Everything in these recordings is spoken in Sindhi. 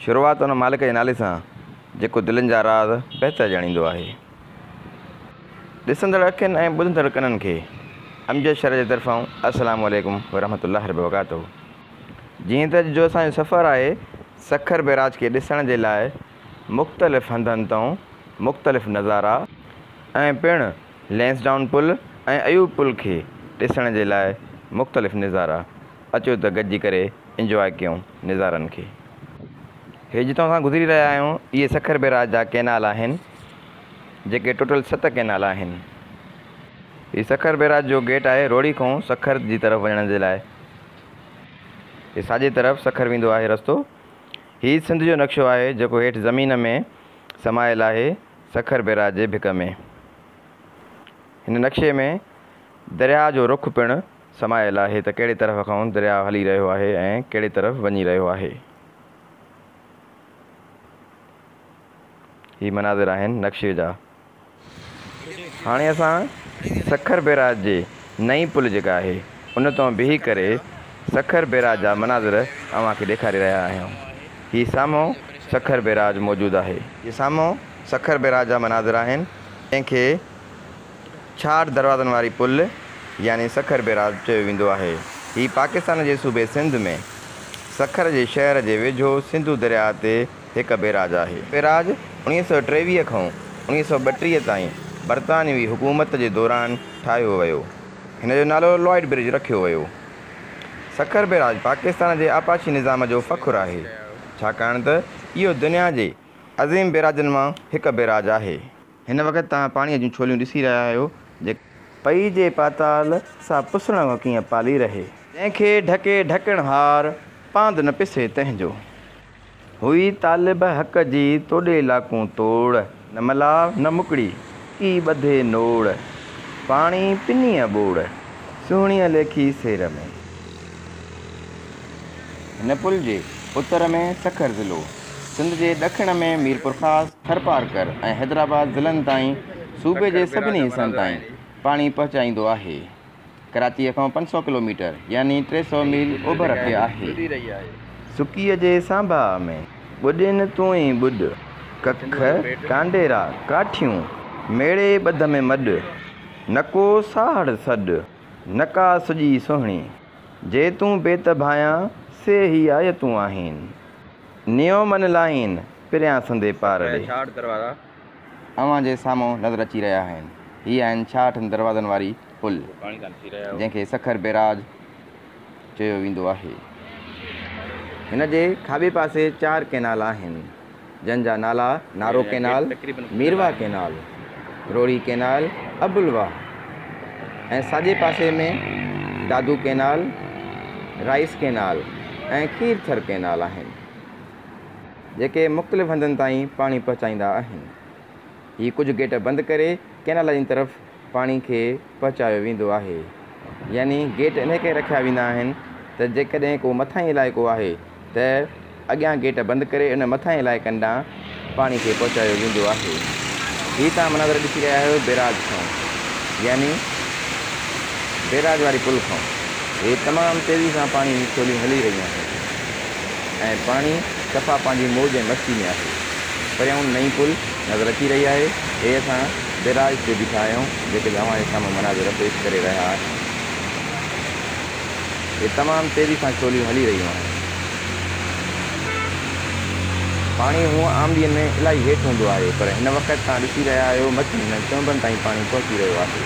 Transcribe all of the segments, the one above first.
شروعات ان مالڪ جي نالي سان جيڪو دلين جا راز بهتر ڄاڻيندو آهي. ڏسندڙ اکين ۽ ٻڌندڙ ڪنن کي امجد شرح جي طرفان السلام عليڪم ورحمة الله ربرڪاته جيئن ته اڄ جو اسان جو سفر آهي سکر بئراج کي ڏسڻ جي لاء مختلف هنڌن تئون مختلف نظارا ۽ پڻ لئنسڊائون پل ۽ ايوب پل کي ڏسڻ جي لاء مختلف نظارا اچو ته گڏجي ڪري انجواء ڪيون نظارن کي. هي جتان اسان گذري رهيا آهيون اهي سکر بئراج جا ڪئنال آهن جيڪي ٽوٽل ست ڪئنال آهن. هي سکر بئراج جو گيٽ آهي روهڙي کون سکر جي طرف وڃڻ جي لاء. هي ساڄي طرف سکر ويندو آهي رستو. هي سنڌ جو نقشو آهي جيڪو هيٺ زمين ۾ سمايل آهي سکر بئراج جي ڀڪ ۾. هن نقشي ۾ درياهه جو رخ پڻ. سمايل آهي ته ڪهڙي طرف کانئن درياء هلي رهيو آهي ۽ ڪهڙي طرف وڃي رهيو آهي. هي مناظر آهن نقشي جا. هاڻي اسان سکر بيراج جي نئين پل جيڪا آهي ان تان بيهي ڪري سکر بيراج جا مناظر اوهان کي ڏيکاري رهيا آهيون. هي سامهون سکر بيراج موجود آهي. هي سامهون سکر بيراج جا مناظر آهن جنهن کي. ڇاڙهه دروازن واري پل يعني سکر بيراج چيو ويندو آهي. هي پاڪستان جي صوبي سنڌ ۾ سکر جي شهر جي ويجهو سنڌو درياء تي هڪ بيراج آهي. هي بيراج اڻيهه سؤ ٽيويهه کان اڻيهه سؤ ٻٽيهه تائين برطانوي حڪومت جي دوران ٺاهيو ويو. هن جو نالو لائيڊ برج رکيو ويو. سکر بيراج پاڪستان جي آبپاشي نظام جو فخر آهي، ڇاڪاڻ ته اهو دنيا جي عظيم بيراجن مان هڪ بيراج آهي. هن وقت توهان پاڻيء جون ڇوليون ڏسي رهيا آهيو، جيڪي. پئي جي پاتال سا پسڻ وڪيئن پالي رهي. جنهن کي ڍڪي ڍڪڻهار، پاند نه پسي تنهن جو. هئي طالب حق جي توڏي لاکون توڙ. نه ملاء نه مڪڙي، ڪي ٻڌي نوڙ. پاڻي پنيء ٻوڙ، سهڻيء ليکي سير ۾. هن پل جي اتر ۾ سکر ضلعو، سنڌ جي ڏکڻ ۾ ميرپورخاص، ٿرپارڪر ۽ حيدرآباد ضلعن تائين صوبي جي سڀني حصن تائين پاڻي پهچائيندو آهي. ڪراچيء کان پنج سؤ ڪلوميٽر يعني ٽي سؤ ميل اوڀر تي آهي. سڪيء جي سانباء ۾ ٻڏين تون ئي ٻڏ، ڪک، ڪانڊيرا، ڪاٺيون، ميڙي ٻڌ ۾ مڏ، نڪو ساهڙ سڏ، نڪا سڄي سهڻي، جي تون بيت ڀانيان، سي هي آيتون آهين. نيو من لائين، پريان سندي پار ڏي. ڇاهٺ دروازا اوهان جي سامهون نظر اچي رهيا آهن. هي آهن ڇاهٺن دروازن واري پل، جنهن کي سکر بيراج چيو ويندو آهي. هن جي کاٻي پاسي چار ڪئنال آهن، جن جا نالا Nara canal, Mirwah canal, Rohri canal, Abulwah ۽ ساڄي پاسي ۾ Dadu canal, rice canal ۽ Khirthar canal آهن، جيڪي مختلف هنڌن تائين پاڻي پهچائيندا آهن. هي ڪجهه گيٽ بند ڪري ڪئنالن جي طرف پاڻي کي پهچايو ويندو آهي يعني گيٽ انهي ڪري رکيا ويندا آهن ته جيڪڏهن ڪو مٿاهين علائقو آهي ته اڳيان گيٽ بند ڪري ان مٿاهين علائقن ڏانهن پاڻي کي پهچايو ويندو آهي هي توهان مناظر ڏسي رهيا آهيو بيراج کان يعني بيراج واري پل کان هي تمام تيزي سان پاڻي جي ڇوليون هلي رهيون آهن ۽ پاڻي صفا پنهنجي موج ۽ مستي ۾ آهي پريائون نئين پل نظر اچي رهي آهي هي اسان بئراج تي بيٺا آهيون جيڪي به اوهان جي سامهون مناظر پيش ڪري رهيا آهيون اهي تمام تيزي سان ڇوليون هلي رهيون آهن پاڻي هونء عام ڏينهن ۾ الاهي هيٺ هوندو آهي پر هن وقت توهان ڏسي رهيا آهيو مٿي هنن چونبن تائين پاڻي پهچي رهيو آهي.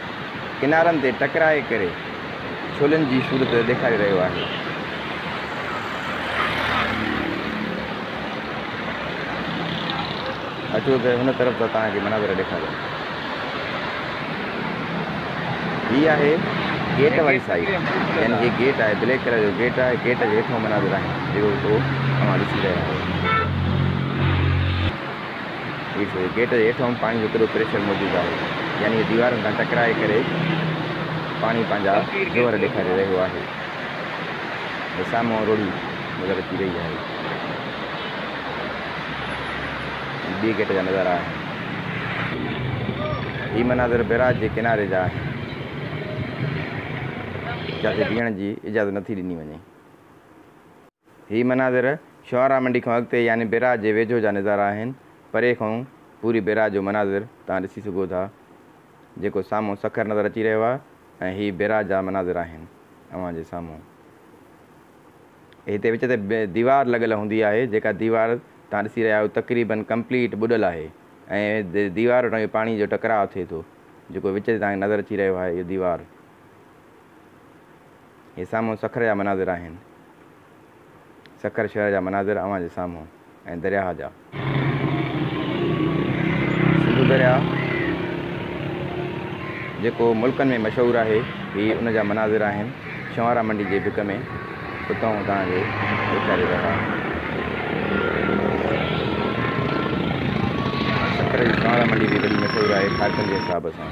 ڪنارن تي ٽڪرائي ڪري ڇولين جي صورت ڏيکاري رهيو آهي. اچو ته هن طرف جا توهان کي مناظر ڏيکاريان. هي آهي گيٽ واري سائيڊ يعني هي گيٽ آهي بليڪ ڪلر جو گيٽ آهي گيٽ جي هيٺان مناظر آهن جيڪو اوهان ڏسي رهيا آهيو. هي ڇو؟ گيٽ جي هيٺ هوم پاڻي جو ڪڏو پريشر موجود آهي، يعني هي ديوارن سان ٽڪرائي ڪري پاڻي پنهنجا زور ڏيکاري رهيو آهي ۽ سامهون روڙي نظر اچي رهي آهي. هي ٻئي گيٽ جا نظارا آهن. هي مناظر بئراج جي ڪناري جا آهن، جتي بيهڻ جي اجازت نٿي ڏني وڃي. هي مناظر شعراء منڊي کان اڳتي يعني بئراج جي ويجهو جا نظارا آهن. پري کان پوري بئراج جو مناظر توهان ڏسي سگهو ٿا. جيڪو سامهون سکر نظر اچي رهيو آهي ۽ هي بئراج جا مناظر آهن اوهان جي سامهون. هتي وچ تي ديوار لڳل هوندي آهي جيڪا ديوار توهان ڏسي رهيا آهيو تقريبن ڪمپليٽ ٻڏل آهي ۽ ديوار وٽان اهو پاڻي جو ٽڪراء ٿئي ٿو جيڪو وچ تي توهان کي نظر اچي رهيو آهي اهو ديوار هي سامهون سکر جا مناظر آهن. سکر شهر جا مناظر اوهان جي سامهون ۽ درياهه جا. سنڌو درياهه جيڪو ملڪن ۾ مشهور آهي هي ان جا مناظر آهن شنوارا منڊي جي ڀڪ ۾ اتانهون توهان کي ڏيکاري رهيا آهيون. سکر جي شنوارا منڊي به وڏي مشهور آهي کارڪن جي حساب سان.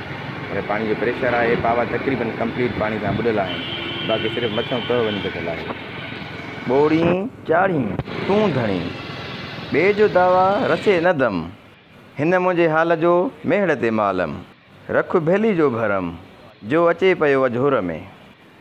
پر پاڻي جو پريشر آهي، پاوا تقريبن ڪمپليٽ پاڻي سان ٻڏل آهن، باقي صرف مٿيون تهه وڃي بچل آهي. ٻوڙين چاڙهين تون ڌڻي، ٻئي جو دعويٰ رسي نه دم، هن منهنجي حال جو ميهڙ تي معلم، رک ڀيلي جو ڀرم، جو اچي پيو اجهور ۾،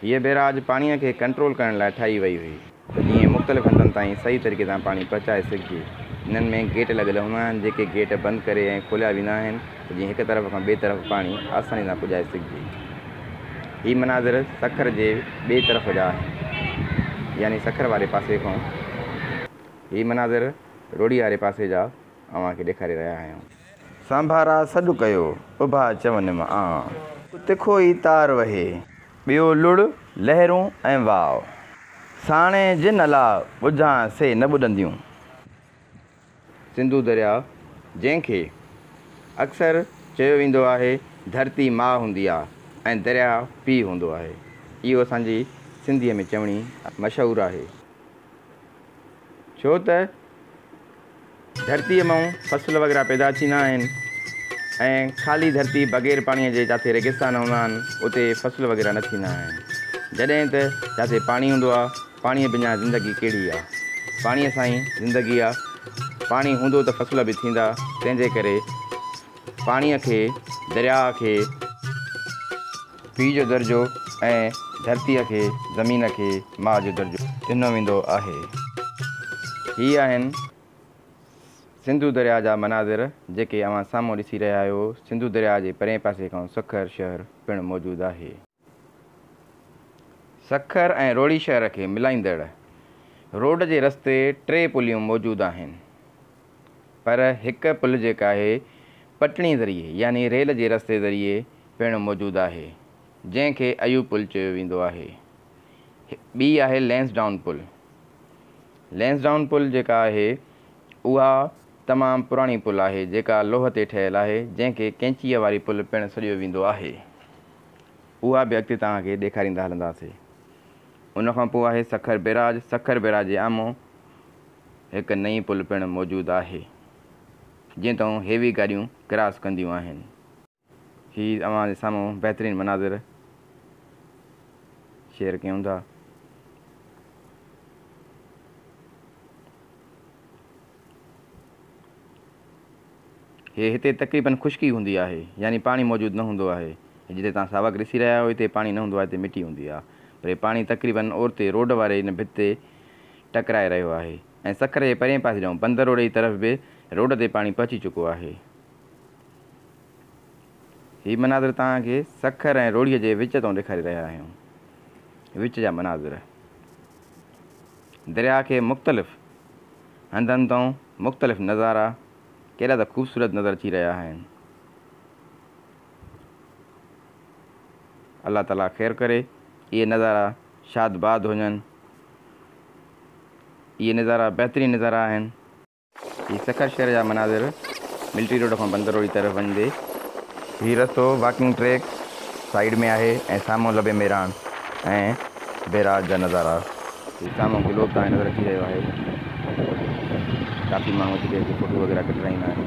هيء بيراج پاڻيء کي ڪنٽرول ڪرڻ لاء ٺاهي وئي هئي ته جيئن مختلف هنڌن تائين صحيح طريقي سان پاڻي پهچائي سگهجي. هنن ۾ گيٽ لڳل هوندا آهن، جيڪي گيٽ بند ڪري ۽ کوليا ويندا آهن ته جيئن هڪ طرف کان ٻئي طرف پاڻي آساني سان پڄائي سگهجي. هي مناظر سکر جي ٻئي طرف جا آهن، يعني سکر واري پاسي کان هي مناظر روهڙي واري پاسي جا اوهان کي ڏيکاري رهيا آهيون. سانڀارا سڏ ڪيو، اڀا چونم آن. ڪو تکو ئي تار وهي. ٻيو لڙ، لهرون ۽ واء. ساڻي جن الاء ٻڌان سي نه ٻڏنديون. سنڌو درياء، جنهن کي اڪثر چيو ويندو آهي، ڌرتي ماء هوندي آ ۽ درياء پيء هوندو آهي. اهو اسان جي سنڌيء ۾ چوڻي مشهور آهي. ڇو ته ڌرتيء مئون فصل وغيره پيدا ٿيندا آهن ۽ خالي ڌرتي بغير پاڻيء جي جاٿي ريگستان هوندا آهن اتي فصل وغيره نه ٿيندا آهن جڏهن ته جاٿي پاڻي هوندو آهي پاڻيء بنا زندگي ڪهڙي آهي پاڻيء سان ئي زندگي آهي پاڻي هوندو ته فصل به ٿيندا تنهنجي ڪري پاڻيء کي درياء کي پيء جو درجو ۽ ڌرتيء کي، زمين کي، ماء جو درجو. ڏنو ويندو آهي. هي آهن سنڌو درياء جا مناظر جيڪي اوهان سامهون ڏسي رهيا آهيو. سنڌو درياء جي پرئين پاسي کان سکر شهر پڻ موجود آهي. سکر ۽ روهڙي شهر کي ملائيندڙ روڊ جي رستي ٽي پليون موجود آهن. پر هڪ پل جيڪا آهي پٽڻي ذريعي يعني ريل جي رستي ذريعي پڻ موجود آهي جنهن کي ايوب پل چيو ويندو آهي. ٻي آهي لينس ڊائون پل. لينس ڊائون پل جيڪا آهي اها تمام پراڻي پل آهي جيڪا لوهه تي ٺهيل آهي جنهن کي ڪينچيء واري پل پڻ سڏيو ويندو آهي. اها به اڳتي توهان کي ڏيکاريندا هلنداسي. ان کان پوء آهي سکر بيراج. سکر بيراج جي آمهون. هڪ نئين پل پڻ موجود آهي جنهن تان هيوي گاڏيون ڪراس ڪنديون آهن. هي اوهان جي سامهون بهترين مناظر شيئر ڪيون ٿا. هي هتي تقريبن خشڪي هوندي آهي يعني پاڻي موجود نه هوندو آهي هي جتي توهان ساوڪ ڏسي رهيا آهيو هتي پاڻي نه هوندو آهي هتي مٽي هوندي آهي پر هي پاڻي تقريبن اورتي روڊ واري هن ڀت تي ٽڪرائي رهيو آهي ۽ سکر جي پرئين پاسي ڏانهن بندر روڊ جي طرف به روڊ تي پاڻي پهچي چڪو آهي. هي مناظر توهان کي سکر ۽ روهڙيء جي وچ تان ڏيکاري رهيا آهيون. وچ جا مناظر درياهه کي مختلف هنڌن تان مختلف نظارا ڪيڏا ته خوبصورت نظر اچي رهيا آهن. الله تعاليٰ خير ڪري اهي نظارا شادباد هجن اهي نظارا بهترين نظارا آهن. هي سکر شهر جا مناظر ملٽري روڊ کان بندر روڊ جي طرف وڃندي. هي رستو واڪنگ ٽريڪ سائيڊ ۾ آهي ۽ سامهون لبي ميراڻ ۽ بيراج جا نظارا. هي سامهون گلوب تائين نظر اچي رهيو آهي ڪافي ماڻهو اچي ڪري هتي فوٽو وغيره ڪڍرائيندا آهن.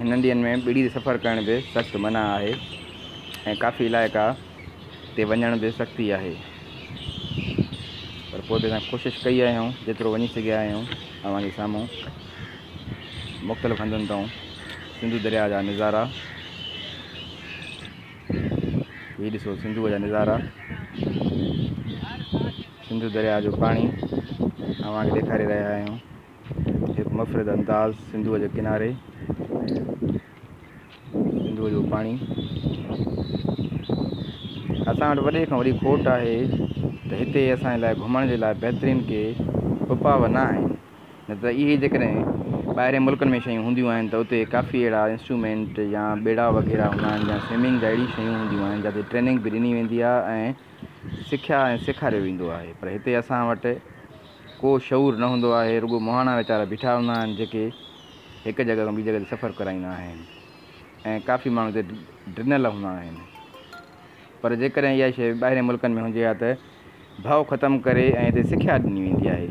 هنن ڏينهن ۾ ٻيڙي تي سفر ڪرڻ به سخت منع آهي ۽ ڪافي علائقا تي وڃڻ به سختي آهي پر پوء به اسان ڪوشش ڪئي آهيون جيترو وڃي سگهيا آهيون اوهان جي سامهون مختلف هنڌن تائون سنڌو درياء جا نظارا هي ڏسو سنڌوء جا نظارا سنڌو درياء جو پاڻي اوهان کي ڏيکاري رهيا آهيون هڪ مفرد انداز سنڌوء جي ڪناري سنڌوء جو پاڻي اسان وٽ وڏي کان وڏي کوٽ آهي ته هتي اسان لاء گهمڻ جي لاء بهترين ڪي اپاء نه آهن نه ته اهي جيڪڏهن ٻاهرين ملڪن ۾ شيون هونديون آهن ته اتي ڪافي اهڙا انسٽرومينٽ يا ٻيڙا وغيره هوندا آهن يا سوئمنگ جا اهڙي شيون هونديون آهن جتي ٽريننگ به ڏني ويندي آهي ۽ سکيا ۽ سيکاريو ويندو آهي پر هتي اسان وٽ ڪو شعور نه هوندو آهي، رڳو مهاڻا ويچارا بيٺا هوندا آهن جيڪي هڪ جڳهه کان ٻي جڳهه تي سفر ڪرائيندا آهن ۽ ڪافي ماڻهو اتي ڊنل هوندا آهن پر جيڪڏهن اها شيء ٻاهرين ملڪن ۾ هجي ها ته ڀؤ ختم ڪري ۽ اتي سکيا ڏني ويندي آهي،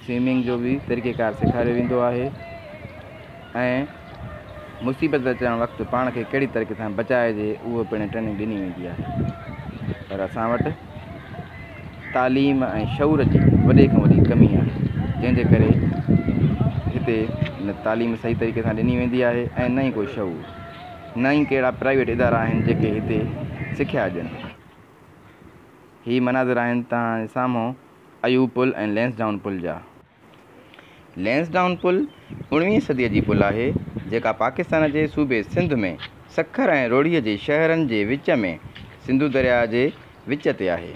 سوئمنگ جو به طريقيڪار سيکاريو ويندو آهي. ۽ مصيبت اچڻ وقت پاڻ کي ڪهڙي طريقي سان بچائجي اهو پڻ ٽريننگ ڏني ويندي آهي پر اسان وٽ تعليم ۽ شعور جي وڏي کان وڏي ڪمي آهي جنهن جي ڪري هتي نه تعليم صحيح طريقي سان ڏني ويندي آهي ۽ نه ئي ڪو شعور نه ئي ڪهڙا پرائيويٽ ادارا آهن جيڪي هتي سکيا ڏين هي مناظر آهن توهان جي سامهون ايوب پل ۽ لينس ڊائون پل جا لينسڊائون پل اوڻويهين صديء جي پل آهي، جيڪا پاڪستان جي صوبي سنڌ ۾ سکر ۽ روهڙيء جي شهرن جي وچ ۾ سنڌو درياء جي وچ تي آهي.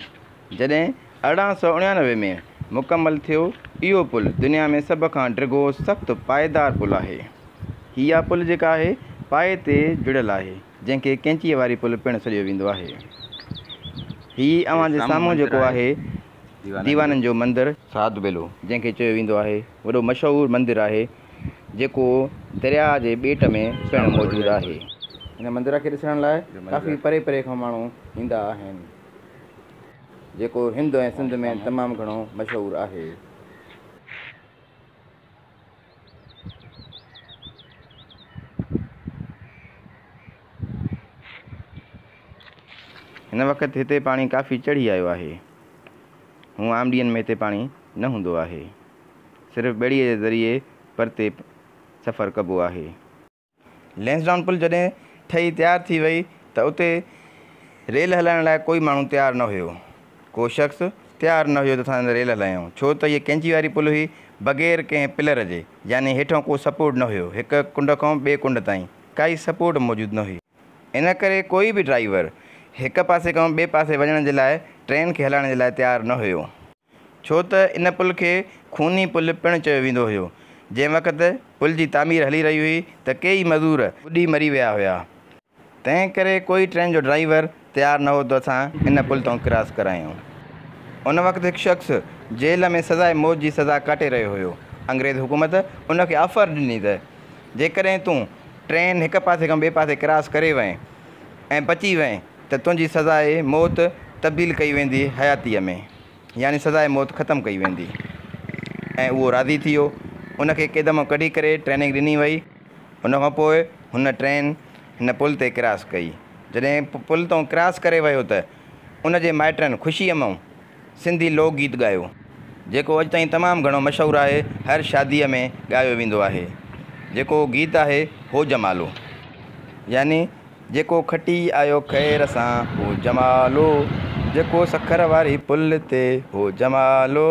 جڏهن ارڙهن سؤ اڻيانوي ۾ مڪمل ٿيو، اهو پل دنيا ۾ سڀ کان ڊگهو سخت پائيدار پل آهي. هيء پل جيڪا آهي، پائي تي جڙيل آهي، جنهن کي ڪئنچيء واري پل پڻ سڏيو ويندو آهي. هيء اوهان جي سامهون جيڪو آهي، ديوانن جو مندر ساڌ بيلو جنهن کي چيو ويندو آهي وڏو مشهور مندر آهي جيڪو درياء جي ٻيٽ ۾ پڻ موجود آهي. هن مندر کي ڏسڻ لاء ڪافي پري پري کان ماڻهو ايندا آهن جيڪو هند ۽ سنڌ ۾ تمام گهڻو مشهور آهي. هن وقت هتي پاڻي ڪافي چڙهي آيو آهي. هونء عام ڏينهن ۾ هتي پاڻي نه هوندو آهي. صرف ٻيڙيء جي ذريعي پرتي سفر ڪبو آهي. لئنسڊائون پل جڏهن ٺهي تيار ٿي وئي ته اتي ريل هلائڻ لاء ڪوئي ماڻهو تيار نه هيو. ڪو شخص تيار نه هيو ته اسان ريل هلايون ڇو ته هيء ڪئنچي واري پل هئي بغير ڪنهن پلر جي يعني هيٺئون ڪو سپورٽ نه هيو هڪ ڪنڊ کان ٻئي ڪنڊ تائين ڪائي سپورٽ موجود نه هئي. ان ڪري ڪوئي به ڊرائيور هڪ پاسي کان ٻئي پاسي وڃڻ جي لاء ٽرين کي هلائڻ جي لاء تيار نه هيو. ڇو ته ان پل کي خوني پل پڻ چيو ويندو هيو. جنهن وقت پل جي تعمير هلي رهي هئي ته ڪيئي مزور ٻڏي مري ويا هيا. تنهن ڪري ڪوئي ٽرين جو ڊرائيور تيار نه هو ته اسان ان پل تان ڪراس ڪرايون. ان وقت هڪ شخص جيل ۾ سزائي موت جي سزا ڪاٽي رهيو هيو. انگريز حڪومت ان کي آفر ڏني ته جيڪڏهن تون ٽرين هڪ پاسي کان ٻئي پاسي ڪراس ڪري وئين ۽ بچي وئين ته تنهنجي سزاء موت تبديل ڪئي ويندي حياتيء ۾، يعني سزاء موت ختم ڪئي ويندي. ۽ اهو راضي ٿيو. ان کي قيد مان ڪڍي ڪري ٽريننگ ڏني وئي. ان کان پوء هن ٽرين هن پل تي ڪراس ڪئي. جڏهن پل تان ڪراس ڪري ويو ته ان جي مائٽن خوشيء مان. سنڌي لوڪ گيت ڳايو، جيڪو اڄ تائين تمام گهڻو مشهور آهي، هر شاديء ۾ ڳايو ويندو آهي، جيڪو گيت آهي هو جمالو يعني جيڪو کٽي آيو خير سان هو جمالو، جيڪو سکر واري پل تي هو جمالو.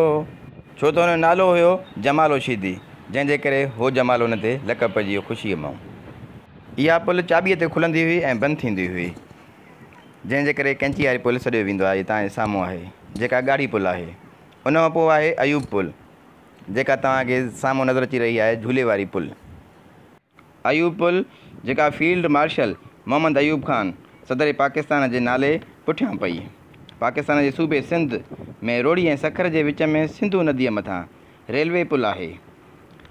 ڇو ته هن جو نالو هيو جمالو شيدي، جنهن جي ڪري هو جمالو هن تي لقب پئجي ويو خوشيء مئو اها پل چاٻيء تي کلندي هئي ۽ بند ٿيندي هئي. جنهن جي ڪري ڪئنچي واري پل سڏيو ويندو آهي تان هي سامهون آهي جيڪا ڳاڙهي پل آهي ان کان پوء آهي ايوب پل جيڪا توهان کي سامهون نظر اچي رهي آهي جهولي واري پل ايوب پل جيڪا فيلڊ مارشل محمد ايوب خان صدر پاڪستان جي نالي پٺيان پئي پاڪستان جي صوبي سنڌ ۾ روهڙي ۽ سکر جي وچ ۾ سنڌو نديء مٿان ريلوي پل آهي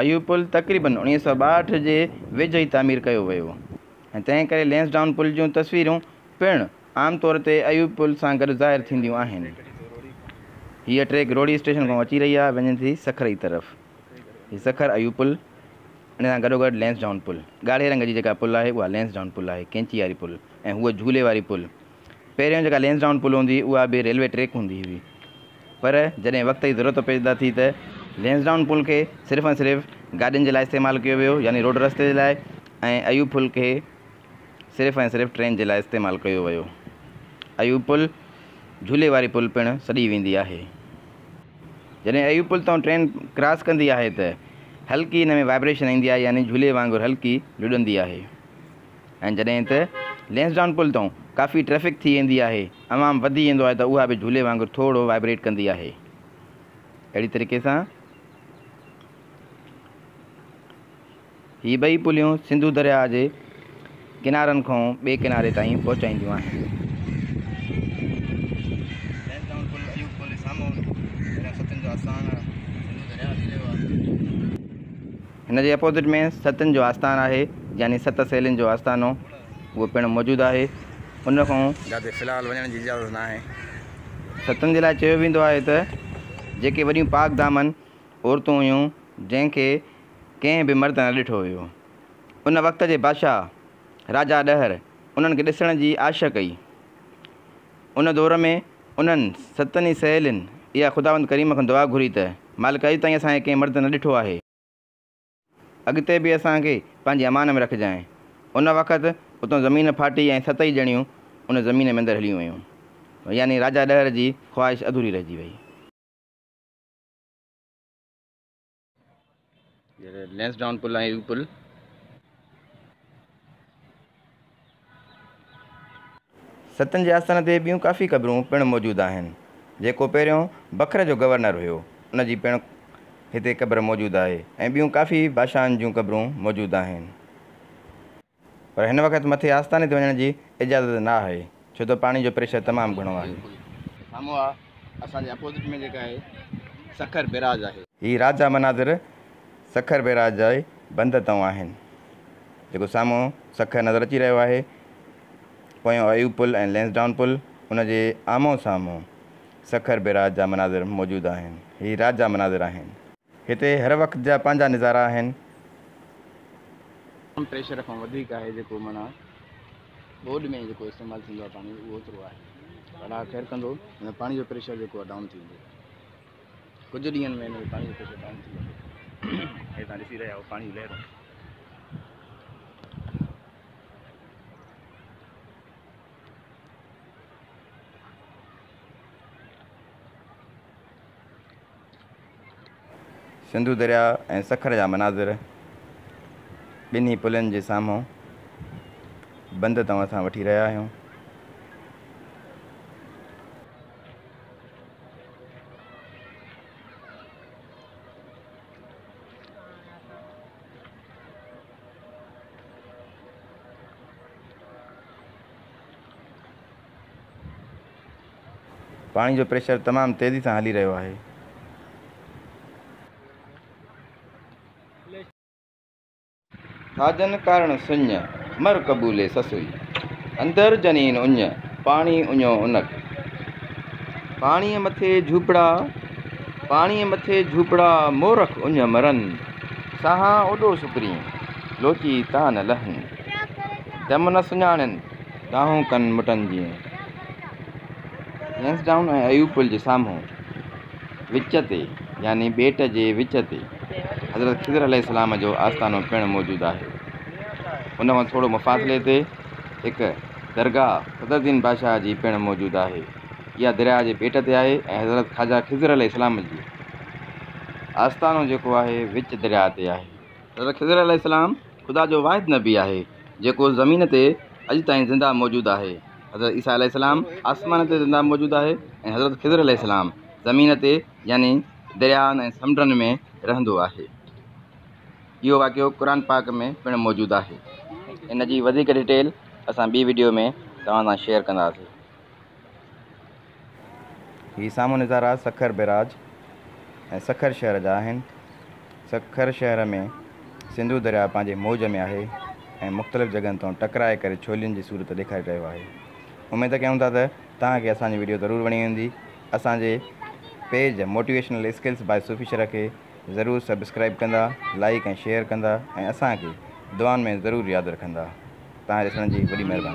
اهو پل تقريباً اوڻيهه سؤ ٻاهٺ جي ويجهو ئي تعمير ڪيو ويو هو ۽ تنهن ڪري لينسڊائون پل جون تصويرون پڻ عام طور تي اهو پل سان گڏ ظاهر ٿينديون آهن. هيء ٽريڪ روهڙي اسٽيشن کان اچي رهي آهي وڃي ٿي سکر جي طرف. هي سکر اهو پل ان سان گڏوگڏ لينسڊائون پل. ڳاڙهي رنگ جي جيڪا پل آهي اها لينسڊائون پل آهي، ڪينچي واري پل. ۽ هوء جهولي واري پل. پهريون جيڪا لينسڊائون پل هوندي هئي اها به ريلوي ٽريڪ هوندي هئي پر جڏهن وقت جي ضرورت پيدا ٿي ته لينسڊائون پل کي صرف ۽ صرف گاڏين جي لاء استعمال ڪيو ويو يعني روڊ رستي جي لاء ۽ ايوب پل کي صرف ۽ صرف ٽرين جي لاء استعمال ڪيو ويو. ايوب پل جهولي واري پل پڻ سڏي ويندي آهي. جڏهن ايوب پل تان ٽرين ڪراس ڪندي آهي ته هلڪي ان ۾ وائبريشن ايندي آهي يعني جهولي وانگر هلڪي لڏندي آهي. ۽ جڏهن ته لينسڊان پل تون ڪافي ٽريفڪ ٿي ويندي آهي عوام وڌي ويندو آهي ته اها به جهولي وانگر ٿورڙو وائبريٽ ڪندي آهي اهڙي طريقي سان هي ٻئي پليون سنڌو درياهه جي ڪنارن کون ٻئي ڪناري تائين پهچائينديون آهن هن جي اپوزٽ ۾ ستن جو آستان آهي يعني ست سهيلين جو آستانو اهو پڻ موجود آهي ان کان جاتي في الحال وڃڻ جي اجازت ناهي. ستن جي لاء چيو ويندو آهي ته جيڪي وڏيون پاڪ دامن عورتون هيون جنهن کي ڪنهن به مرد نه ڏٺو هيو ان وقت جي بادشاهه راجا ڏهر انهن کي ڏسڻ جي آش ڪئي ان دور ۾ انهن ستن ئي سهيلين اها خداوند ڪريم کان دعا گهري ته، مالڪ اڄ تائين اسان کي ڪنهن مرد نه ڏٺو آهي. اڳتي به اسان کي پنهنجي امان ۾ رکجانء. ان وقت اتان زمين ڦاٽي ۽ ست ئي ڄڻيون ان زمين ۾ اندر هليون ويون. يعني راجا ڏهر جي خواهش اڌوري رهجي وئي. لينس ڊائون پل ۽ يو پل ستن جي آستان تي ٻيون ڪافي قبرون پڻ موجود آهن. جيڪو پهريون بکر جو گورنر هيو ان جي پڻ هتي قبر موجود آهي ۽ ٻيون ڪافي بادشاهن جون قبرون موجود آهن. پر هن وقت مٿي آستاني تي وڃڻ جي اجازت نه آهي ڇو ته پاڻي جو پريشر تمام گهڻو آهي. سامهون آ اسان جي اپوزٽ ۾ جيڪا آهي سکر بيراج آهي. هي رات جا مناظر سکر بيراج جي بند تئون آهن جيڪو سامهون سکر نظر اچي رهيو آهي. پويون ايوب پل ۽ لينس ڊائون پل ان جي آمهون سامهون سکر بيراج جا مناظر موجود آهن. هي رات جا مناظر آهن. هتي هر وقت جا پنهنجا نظارا آهن. عام پريشر کان وڌيڪ آهي جيڪو معنيٰ ٻوڏ ۾ جيڪو استعمال ٿيندو آهي پاڻي اهو اوترو آهي الله خير ڪندو هن پاڻي جو پريشر جيڪو آهي ڊائون ٿي ويندو ڪجهه ڏينهن ۾ هن پاڻي جو پريشر ڊائون ٿي ويندو هي تان ڏسي رهيا آهو پاڻي لهرون سنڌو درياء ۽ سکر جا مناظر ٻنهي پلن جي سامهون بند توهان سان وٺي رهيا آهيون. پاڻي جو پريشر تمام تيزي سان هلي رهيو آهي. ڇاجن ڪارڻ سڃ، مر قبولي سسئي. اندر جنين اڃ، پاڻي اڃو انڪ. پاڻيء مٿي جهوپڙا، پاڻيء مٿي جهوپڙا، مورک اڃ مرن. ساهان اوڏو سڪرين، لوچي تان نه لهن. دم نه سڃاڻين. ڏاهون ڪن مٽن جيئن. لينس ڊائون ۽ ايوب پل جي سامهون وچ تي يعني ٻيٽ جي وچ تي حضرت خضر عليه السلام جو آستانو پڻ موجود آهي. ان کان ٿورو مفاصلي تي هڪ درگاهه صدر الدين بادشاهه جي پڻ موجود آهي. اها درياهه جي ٻيٽ تي آهي ۽ حضرت خواجه خضر عليه السلام جي آستانو جيڪو آهي وچ درياهه تي آهي. حضرت خضر عليه السلام خدا جو واحد نبي آهي جيڪو زمين تي اڄ تائين زنده موجود آهي حضرت عيسيٰ عليه السلام آسمان تي زنده موجود آهي ۽ حضرت خضر عليه السلام زمين تي يعني دريائن ۽ سمنڊن ۾ رهندو آهي اهو واقعو قرآن پاڪ ۾ پڻ موجود آهي ان جي وڌيڪ ڊيٽيل اسان ٻي وڊيو ۾ توهان سان شيئر ڪنداسين هي سامهون نظارا سکر بئراج ۽ سکر شهر جا آهن. سکر شهر ۾ سنڌو درياء پنهنجي موج ۾ آهي ۽ مختلف جڳهن تان ٽڪرائي ڪري ڇولين جي صورت ڏيکاري رهيو آهي. اميد ڪيون ٿا ته توهان کي اسان جي وڊيو ضرور وڻي هوندي. اسان جي page motivational skills by Sufi شرح کي ضرور سبسڪرائيب ڪندا، لائيڪ ۽ شيئر ڪندا ۽ اسان کي دعائن ۾ ضرور ياد رکندا. توهان جي ڏسڻ جي وڏي مهرباني.